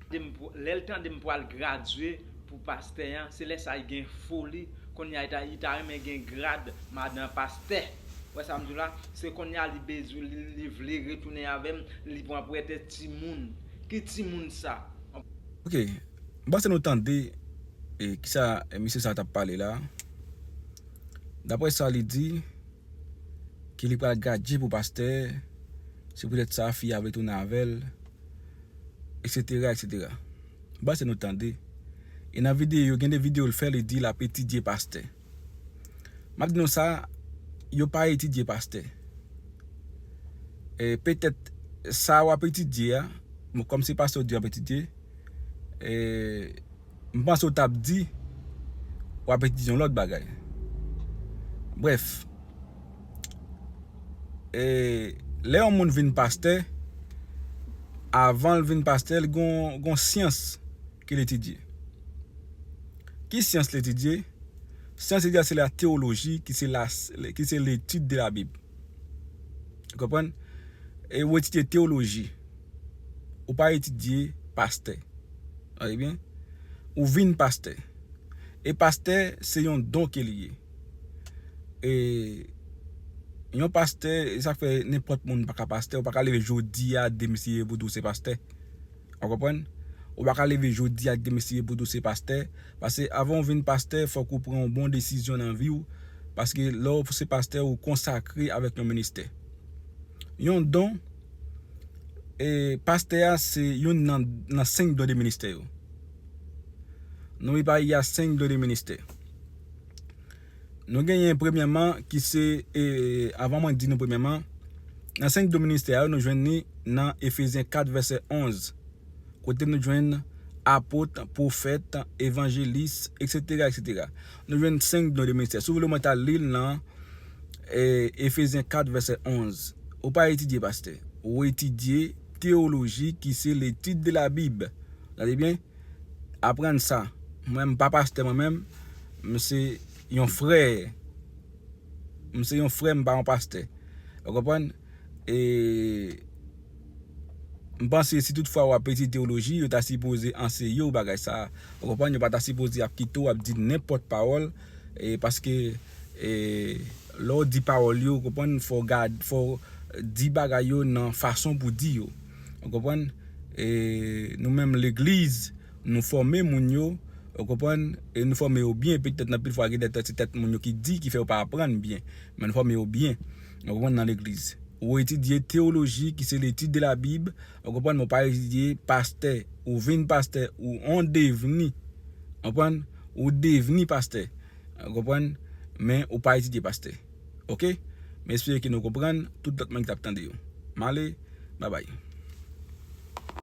Lèl tande m pwal gradye pou pastè an se lè sa li gen foli konnya li ta renmen gen grad madan pastè wè sa m di w la se konnya li bezwen li vle retounen avè m li pran pretèks timoun ki timoun sa. Ok m pase nou tande kisa mesye sa tap pale la daprè sa li di. ke li pral gadje pou pastè se poutèt sa fi a vle tounen avèl etc etc m pase nou tande e nan videyo yo gen de videyo l fè li di lap etidye pastè map di nou sa yo pa etidye pastè e petèt sa wap etidye a bon kòm se pastè ou di wap etidye e. M panse w tap di wap etidye yon lòt bagay. Brèf, lè yon moun vin pastè, avan l vin pastè l gon syans ke l etidye. Ki syans l etidye? Syans l etidye se la tewoloji ki se letid de la bib. Ou konprann? Ou etidye tewoloji. Ou pa etidye pastè. Tande byen. Ou vin pastè. E pastè se yon don ke li ye. E yon pastè, e sa k fè nenpòt moun pa ka pastè. Ou pa ka leve jodi a, demen si ye pou di w se pastè. Ou konprann? Ou pa ka leve jodi a, demen si ye pou di w se pastè. Pase avan ou vin pastè, fòk ou pran yon bon desizyon nan vi w. Paske lè ou se pastè, ou konsakre avèk yon ministè. Yon don. Pastè a se youn nan 5 don de ministè yo. Non li pa ye a 5 don de ministè. Nou genyen premyèman ki se, avan mwen di nou premyèman, nan 5 don ministè yo nou jwenn ni nan Efezyen 4 vèsè 11, kote nou jwenn Apot, Pwofèt, Evanjelis, eksetera, eksetera. Nou jwenn 5 don de ministè. Si w vle mwen ta li l nan Efezyen 4 vèsè 11. Ou pa etidye pastè. Ou etidye teyoloji ki se l'étude de la Bible. Gade byen, aprann sa. Mwen m pa pastè mwen menm, m se yon frè. M se yon frè m pa yon pastè. Ou konprann? e m panse si tout fwa wap etidye teoloji yo ta sipoze anseye w bagay sa ou konprann yo pa ta sipoze ap kite w ap di nenpòt pawòl e paske e lè w di pawòl yo ou konprann fò w gade fò w di bagay yo nan fason pou di yo ou konprann e nou menm legliz nou fòme moun yo ou konprann e nou fòme yo byen petèt anpil fwa gen de tèt se tèt moun yo ki di ki fè yo pa aprann byen men nou fòme yo byen. Nou konprann nan legliz. Ou etidye teoloji ki se letid de la bib, ou konprann men ou pa etidye pastè, ou vin pastè, ou on devni, ou konprann, ou devni pastè, ou konprann, men ou pa etidye pastè. Ok? M espere ke nou konprann, tout lòt moun ki t ap tande yo. M ale, babay.